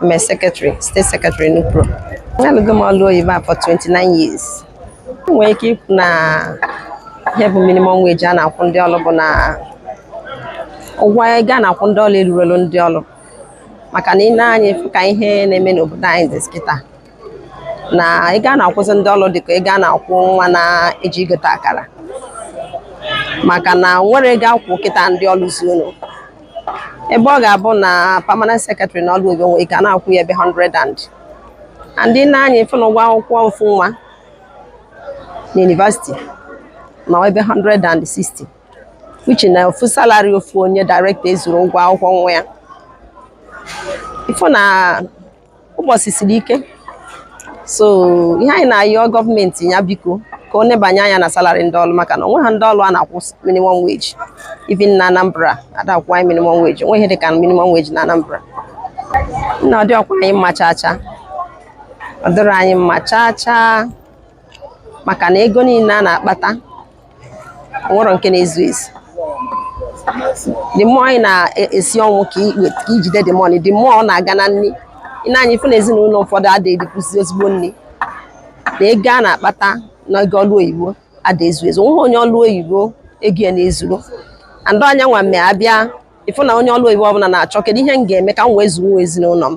I'm a secretary, state secretary Nupro. Alụgo m ọlụ oyibo a for 29 years. M nwere ike ikwu na ihe bụ minimum wage a na-akwụ ndị ọlụ bụ na ụgwọ ego a na-akwụ ndị ọlụ elurọlụ ndị ọlụ maka na i nee anya ị fụ ka ihe na-eme n'obodo anyị dịzi kịta na ị ga na-akwụzi ndị ọlụ dịka ị ga na-akwụ nwa na-eji egote akara maka na nwere ego akwụ kịta ndị ọlụ zuonụ ebe ọ ga-abụ na permanent secretary na ọlụ oyibo nwere ike a na-akwụ ya ebe 100 and and i nee anya ị fụ na ụgwọ akwụkwọ ofu nwa na university na ebe 160 which na ofu salary ofu onye director ezurọ ụgwọ akwụkwọ nwa ya ị fụ na ụbọsị siri ike so ihe anyị na-ayọ gọọmenti ya biko ka o nebanye anya na salary ndị ọlụ maka na o nweghị ndị ọlụ a na-akwụ minimum wage even na Anambra a da-akwụ anyị minimum wage o nweghị ihe dị ka minimum wage na Anambra nna ọ dịrọkwa anyị mma chaa chaa ọ dịrọ anyị mma chaa chaa maka na ego niile a na-akpata nwerọ nke na-ezu ezu the more anyị na-esi ọnwụ ka i jide the money the more ọ na-aga na nri i nee anya ị fụ na ezinụlọ ụfọdụ adịghị elikwuzi ezigbo nri na ego a na-akpata na ego ọlụ oyibo ada ezu ezu nweghị onye ọlụ oyibo ego ya na-ezuru and ọ nyanwa mee a bịa ị fụ na onye ọlụ oyibo ọbụla na-achọ kedu ihe m ga-eme ka m wee zụnwuo ezinụlọ m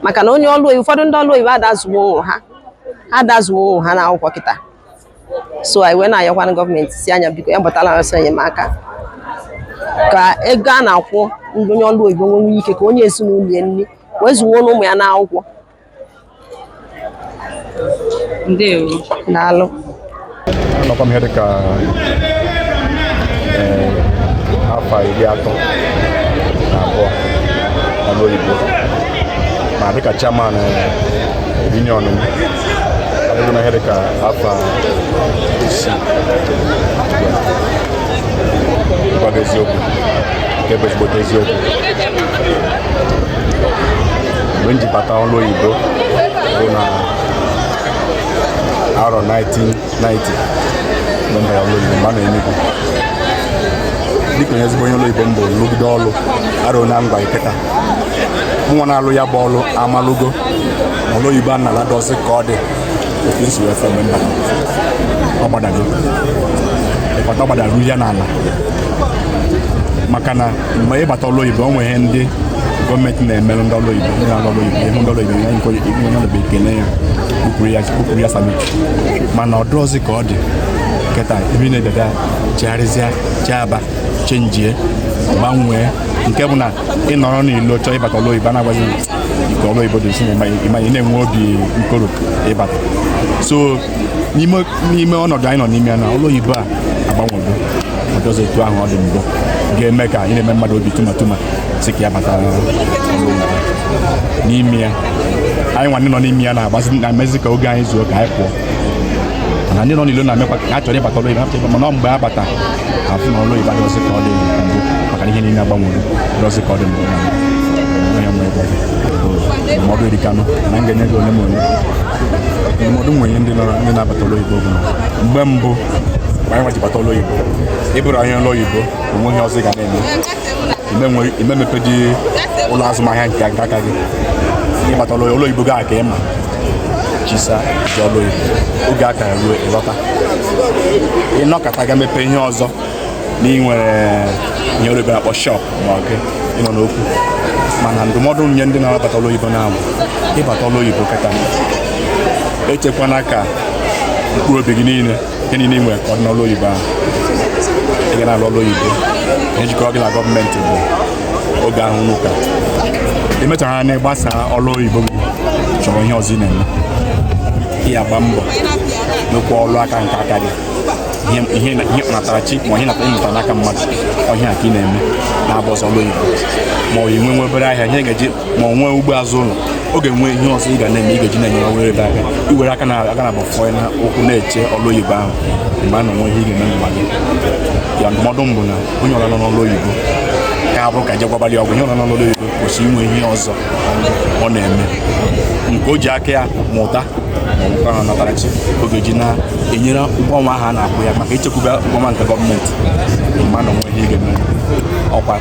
maka na onye ọlụ oyibo ụfọdụ ndị ọlụ oyibo ada azụnwu ụmụ ha ada azụnwu ụmụ ha na akwụkwọ kịta so anyị wee na-ayọkwana gọọmenti sị a nya biko ya gbatala ọsọ enyemaka ka ego a na-akwụ ndị onye ọlụ oyibo nwee ike ka o nye ezinụlọ ya nri wee zụnwuo ụmụ ya n'akwụkwọ ndewo daalụ anọkwa m ihe dịka eh, afọ iri atọ na abụọ n'ọrụ oyibo ma dịka chairman eh, union m na ihe dị ka afọ isii ịgwa gị eziokwu nke bụ ezigbote eziokwu mgbe m ji bata ọrụ oyibo bụ na arọ 19 dịka onye ezigbo onye ọlụ oyibo m bụ lụgide ọlụ arọ na ọnwa kịta nwa na-alụ ya bụ ọlụ amalụgo na ọlụ oyibo a na-ala dọsị ka ọ dị otu isi wee fe mgbe m bata ọ gbadago ịkọta ọ gbadara ya n'ala maka na mgbe ị bata ọlụ oyibo o nwere ihe ndị gọọmenti na-emere ndị ọlụ oyibo ndị na-alụ ọlụ oyibo ihe ndị ọlụ oyibo ya nke onye ọlụ bụ ekele ya kpụpụrụ ya salute mana ọ dịrọzi ka ọ dị kịta ebe na-ededa chegharịzịa cheaba chenjie gbanwee nke bụ na ị nọrọ n'ilo chọọ ịbata ọlụ oyibo na-agwa gị nke ọlụ oyibo dị nso ị ma na-enwe obi nkoro ịbata so n'ime ọnọdụ anyị nọ n'ime ya na ọlụ oyibo a agbanwego ọ dịrọzi etu ahụ ọ dị mbụ ga-eme ka ị na-eme mmadụ obi tuma tuma sị ka ya bata n'ime ya anyị nwa ndị nọ n'ime ya na-agbazi na-emezi ka oge anyị zuo ka anyị pụọ mana ndị nọ n'ilo na-emekwa ka ha chọrọ ịbata ọlụ oyibo mana mgbe ha bata afụ na ọlụ oyibo adịrọzi ka ọ dị mbụ maka na ihe niile agbanwere ọ dịrọzi ka ọ dị mbụ ndụmọdụ erikanụ na m ga-enye gị ole ma ole ndụmọdụ m nwere inye ndị nọrọ ndị na-abata ọlụ oyibo bụ mgbe mbụ mgbe anyị nwa ji bata ọlụ oyibo ị bụrụ onye ọlụ oyibo o nweghị ihe ọzọ ị ga na-eme ị ma emepedị ụlọ azụmahịa nke aka gị ị bata ọlụ oyibo gaa ka ị ma chisa ji ọlụ oyibo oge a kara ruo ị lọta ị nọkata ga mepe ihe ọzọ na i nwere ihe oyibo na-akpọ shọp ma ọ gị ị nọ n'okwu mana ndụmọdụ nye ndị na-abata ọlụ oyibo na-anwụ ịbata ọlụ oyibo kịta echekwana ka mkpụrụ obi gị niile ihe niile i nwere ka ọ dị n'ọlụ oyibo ahụ ị ga na-alụ ọlụ oyibo ihe jikọrọ gị na gọọmenti bụ oge ahụ unu ka i mechaa na ị gbasa ọlụ oyibo gị chọrọ ihe ọzọ ị na-eme ị ya-agba mbọ nwekwa ọrụ aka nke aka gị ihe ị natara chi ma ihe natara ị mụta n'aka mmadụ ọ ya ka ị na-eme na-abụrọzi ọlụ oyibo ma ọ i nwe nwe obere ahịa ihe ị ga-eji ma ọ nwee ugbo azụ ụlọ ọ ga-enwe ihe ọzọ ị ga na-eme ị ga-eji na-enyere onwe gị aka i were aka naabọ fọ n'ụkwụ na-eche ọlụ oyibo ahụ ọ ma enwe ihe ị ga-eme mgba gị ya ndụmọdụ m bụ na onye ọbụla nọ n'ọlụ oyibo ka abụrụ ka jegwabalị ọgwụ onye ọbụla nọ n'ọlụ oyibo kwesị inwe ihe ọzọ ọ na-eme nke o ji aka ya mụta ma ọ natara chi ọ ga-eji na-enyere ụgwọ ọnwa ahụ a na-akwụ ya aka i chekwube ụgwọ ọnwa nke gọọmenti ọ ma enwe ihe ị ga-eme ọkwa